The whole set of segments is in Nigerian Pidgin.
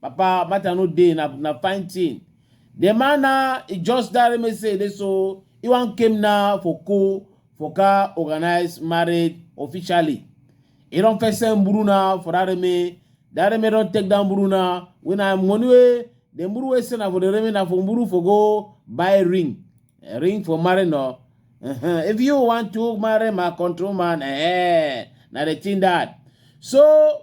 Papa Abacha no dey na na fine thing. The man now he just that me say this so he wan came now for co for car organize marriage officially. He don first send buru now for that me. That me don take down buru now. When I money wey the buru wey send na for the remain na for buru for go buy ring. Eh, ring for marry no. Uh-huh. If you want to marry my control man, eh, na the thing that. So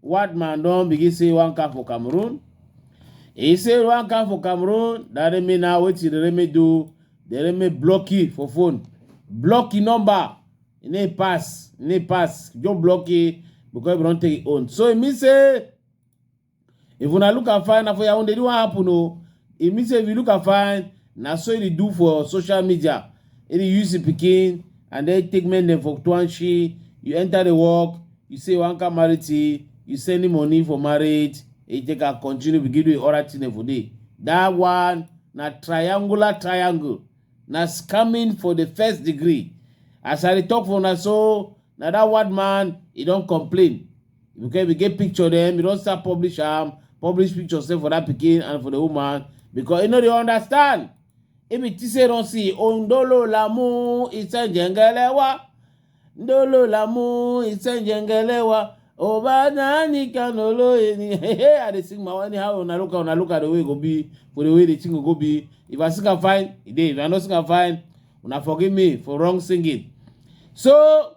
One man don begin say he wan come for Cameroon. He say he wan come for Cameroon. That Remy now wetin the Remy do? The Remy block you for phone. Block your number. E no pass. E no pass. Just block you because you don take your own. So e mean say if una look am fine na for yaounde the one happen o e mean say if you look am fine Na so e dey do for social media. E dey use im pikin and then take men dem for Tuanshi. You enter the work, you say you wan come marry T, you send him money for marriage, e take am continue begin do the other thing dem for there. That one na triangular triangle. Na scamming for the first degree. As I dey talk for una so, na that word man, e don complain. we get we get picture dem we don start publish am publish picture sef for that pikin and for the woman because e no dey understand e be think say e don see ondolo lamu isejengelewa ndolo lamu isejengelewa oba nani kanolo eni hey hey i dey sing my own anyhow una look am una look am the way e go be for the way the thing go go be if i sing am fine e dey if i no sing am fine una forgive me for wrong singing so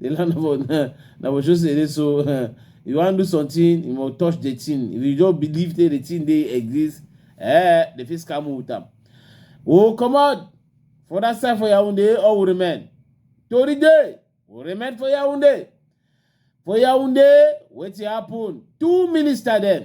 the land of uh, na for sure say dey so uh, you wan do something you must touch the thing if you just believe say the thing dey exist eh the fit scam you with am o comot for that side for yaounde or we remain tori dey we remain for yaounde for yaounde wetin happen two minister dem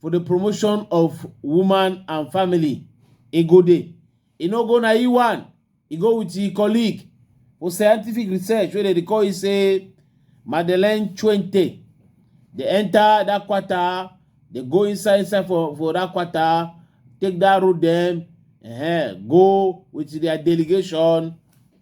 for the promotion of woman and family e go dey e no go na e one e go with e colleague for scientific research wey dem dey call e say madeleine chuente dey enter that quarter dey go inside inside for for that quarter take that road dem uh, go with their delegation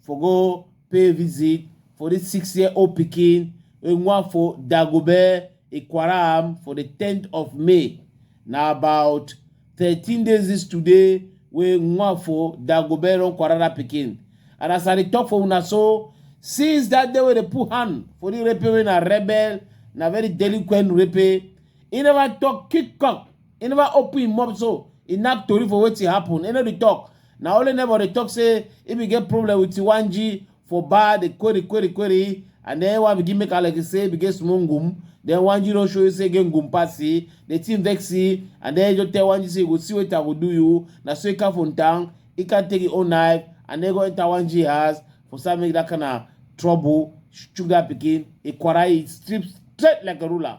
for go pay visit for this six year old pikin wey wan for dagobe ikwaram for the 10th of may na about 13 days this today wey wan for dagobe run kwara that pikin and as i dey talk for una so since that day wey dey put hand for the rape wey na rebel na very delinquent rape he never talk kick cock e never open im mouth so e knack tori for wetin happen e no dey talk na only neighbor dey talk say e bin get problem with tiwanji for bar dey query query query and then one begin make am like e say e bin get small ngum then wanji don show you say e get ngum pass e the thing vex e and then e just tell wanji say you go see wetin i go do you na so e come from town e come take im own knife and then go enter wanji house for start make that kind of trouble sugar pikin e quarrel e strip straight like a ruler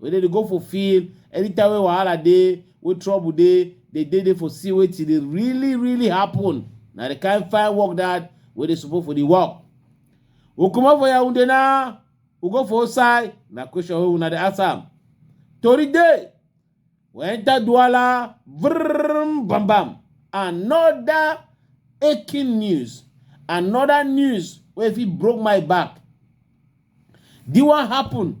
Wey dem dey go for field, anytime wey wahala dey, wey trouble dey, dem dey there for see wetin dey really really happen. Na the kind fine work that wey dey support for the work. We comot for Yaounde now, we go for outside, na question wey una dey ask am. Tori dey, we enter Douala, vrrrrm bam bam, another aching news, another news wey fit broke my back. This one happen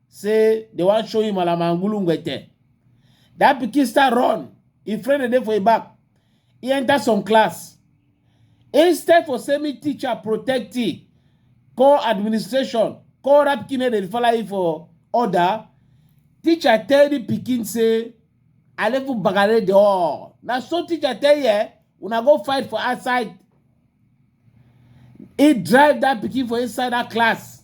say they wan show him alamangulu ngwete that pikin start run him friend dey dey for him back he enter some class instead for say me teacher protect him call administration call that pikin make dem follow him for order teacher tell the pikin say alefu bagare the all na so teacher tell ye una go fight for outside he drive that pikin for inside that class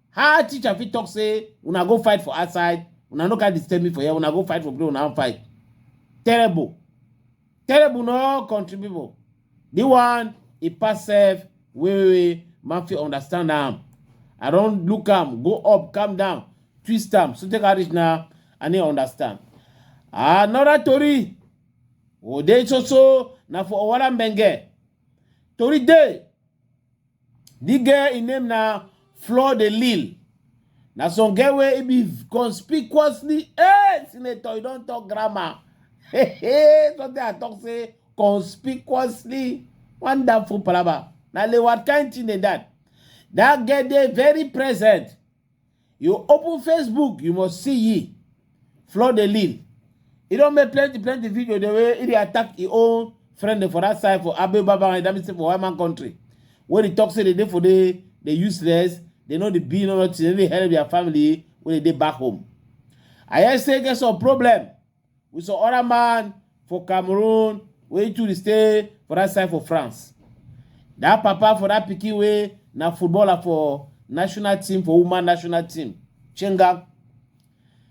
How teacher fit talk say una go fight for outside, una no can disturb me for here, una go fight for play, una fight. Terrible. Terrible no country people. The one e pass self wey wey man fit understand am. I don look am, go up, calm down, twist am, so take am reach na I no understand. Another tori Ode Soso na for Owara Mbenge. Tori dey The girl im name na Fleur de Lille. Na some girl wey e be conspicuously hey senator you don talk grammar. Hey hey something I talk say conspicuously wonderful palava. Na le what kind thing dey that? That girl dey very present. You open Facebook, you must see ye. Flood the lead. He don't make plenty, plenty video the way he attack his own friend for that side for Abe Baba and that for white man country. When he talks, they for the, the useless, they know the being or not, they help their family when they back home. I say get some problem. with some other man for cameroon wey too dey stay for that side for france that papa for that pikin wey na footballer for national team for woman national team chenga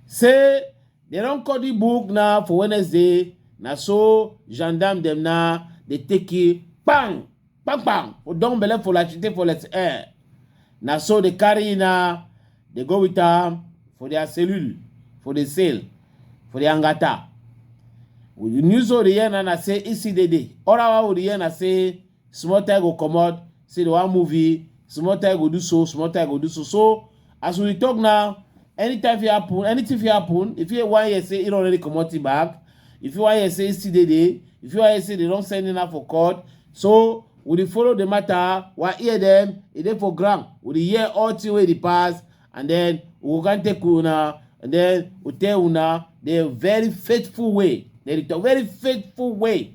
say dem don cut the book now for wednesday na so gendarme dem now dey take it bang bang bang for down belle for like she take for let eh na so dey carry na dey go with am for their cellule for the sale for the angata we the news wey dey hear na na say isi dey dey oral wa we dey hear na say small time go comot say the one movie small time go do so small time go do so so As we talk now, anytime fit happen, anything fit happen. If you one year say he already comot him back, if you one year say he still dey there, if you one year say they don send him now for court, so we dey follow the matter, we hear them, e dey for ground, we dey hear all thing wey dey pass, and then we go come take una, and then we tell una the very faithful way, then the very faithful way.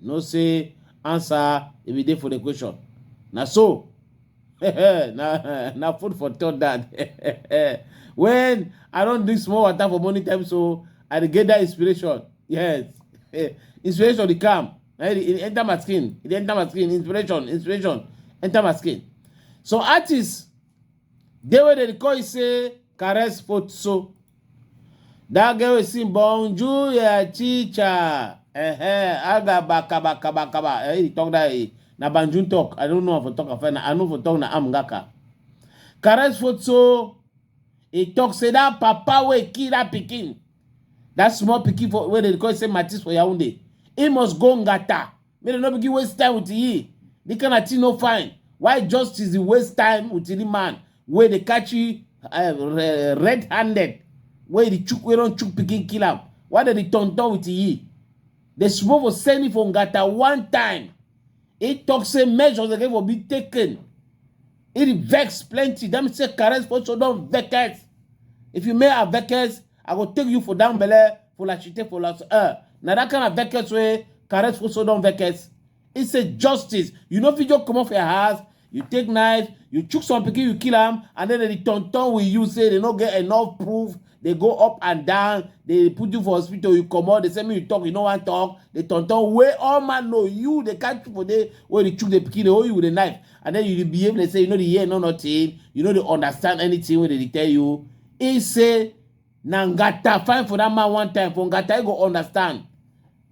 you know say answer e be dey for the question na so na na food for thought that when i don drink small water for morning time so i dey get that inspiration yes inspiration dey come na e dey enter my skin e dey enter my skin inspiration inspiration enter my skin some artists dey wey dem dey call you say caress foot so That girl wey sing bonjour yeah, chicha. Eh, aga baka baka baka ba. Eh, he talk that eh. Na Banjun talk. I don't know if I talk after na. I know for talk na am ngaka. Caress photo. He talk say that papa wey kill that pikin. That small pikin for where they call say Matis for Yaoundé. He must go ngata. make dem no begin waste time with ye the kind of thing no fine why justice dey waste time with the man wey dey catch you uh, red handed wey dey chook wey don chook pikin kill am why dem dey turn turn with ye dem suppose for send him for ngata one time he talk say measures again for be taken he dey vex plenty that mean say caress also don vex if you make her vex I go take you for down belle for la chite for la uh, na that kind of veckets wey caress for so don veckets. He say justice. You no fit just comot for your house. You take knife, you chook some pikin, you kill am, and then the turn turn with you say they no get enough proof. They go up and down. They put you for hospital. You comot. They say me you talk. You no wan talk. They turn turn wey all man know you. They catch you for there wey they chook the pikin. They hold you with a knife, and then you dey behave. They say you no dey hear no nothing. You no dey understand anything wey they dey tell you. He say na ngata fine for that man one time for ngata he go understand.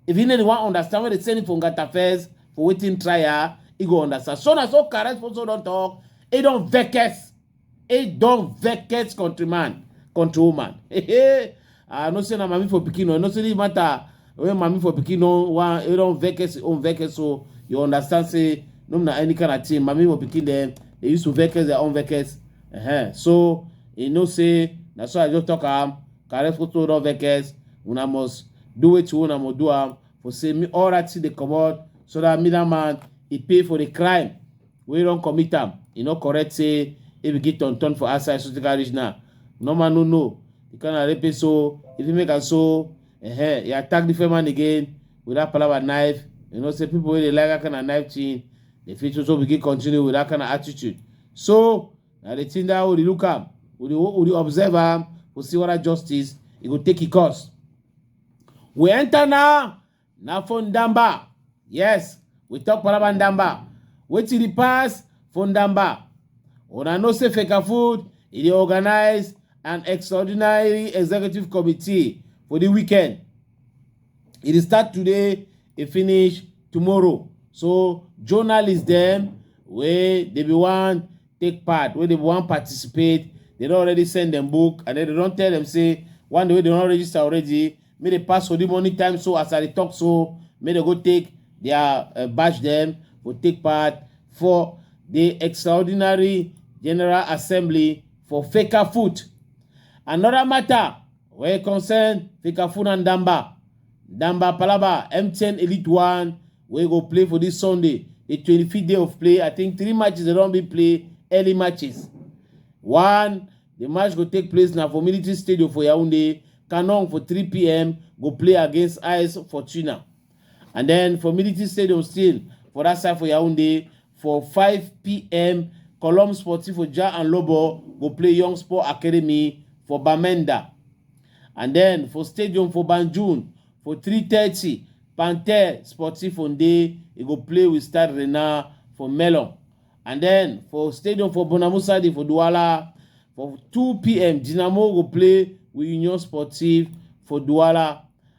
If he no dey wan understand when they send him for ngata first for waiting trial he go understand. So na so Kares also don talk he don vex he don vex countryman countrywoman. I know say na mami for pikin o I know say this matter when mami for pikin don wan he don vex him own vex so you understand say no be na any kind of thing mami for pikin dem dey use to vex their own vex Uh-huh. So you know say na so I just talk am carry photo no vex una must do wetin una must do am for say me all right thing dey comot so that middle man e pay for the crime wey don commit am e no correct say e begin turn turn for outside so take reach now normal no know the kind of rape so if you make am so uh-huh, you attack the man again with that palava knife you know say people wey dey like that kind of knife thing dey fit also begin continue with that kind of attitude so na the thing that we dey look am we dey we dey observe am we see whether justice e go take e course we enter now na for ndamba yes we talk palaba ndamba wetin dey pass for ndamba una know say fecafoot e dey organise an extraordinary executive committee for the weekend e dey start today e finish tomorrow so journalists dem wey dey be wan take part wey dey be wan participate dey don already send dem book and then dey don tell dem say one day wey dey don register already make dey pass for the money time so as i dey talk so make dem go take their uh, batch dem go take part for the extraordinary general assembly for faker foot another matter We concern Fikafuna Ndamba. Ndamba Palaba, MTN Elite One, we go play for this Sunday, the 25th day of play. I think three matches they don't be play early matches. One, the match go take place now for Military Stadium for Yaoundé. Canon for 3 p.m. go play against IS Fortuna. And then for Military Stadium still, for that side for Yaoundé, for 5 p.m., Column Sportif for Ja and Lobo go play Young Sport Academy for Bamenda. And then for Stadium for Banjul, for 3.30, Panther Sportif on day, he go play with Stade Renard for Melon. And then for Stadium for Bonamusadi for Douala, for 2 p.m., Dynamo go play with Union Sportive for Douala.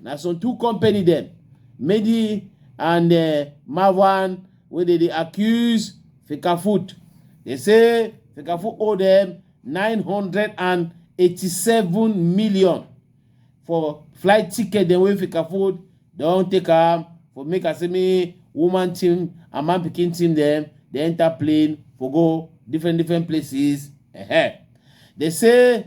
na some two company dem medi and eh, marwan wey dey dey accuse fikafoot dey say fikafoot owe dem 987 million for flight ticket dem wey fikafoot don take am for make asemi woman team and man pikin team dem dey enter plane for go different different places. Dey say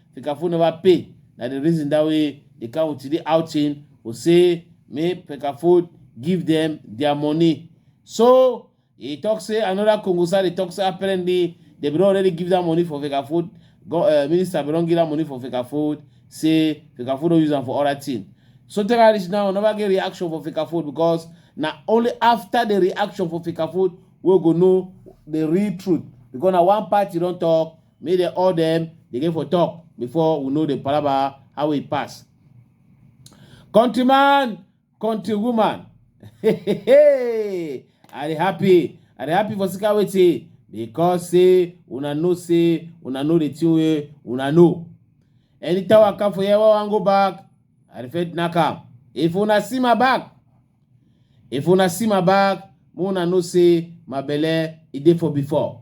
Fi ka fone ba pay na the reason that way the cow ti dey outing o say make Pekafod give them their money. So he talk say another Kongosa dey talk say apparently they bin don already give that money for Fekafod. Go, uh, minister bin don give that money for Fekafod. Say Fekafod don use am for other thing. So tell her reach now we never get reaction for Fekafod because na only after the reaction for Fekafod we go know the real truth because na one party don talk make dem all dem dey get for talk before we know the palaba how e pass countryman countrywoman hey, hey, hey. i dey happy i dey happy for sika wetin because say una know say una know the thing wey una know anytime i come for here wey i wan go back i dey fit knack am if una see my back if una see my back make una know say my belle e dey for before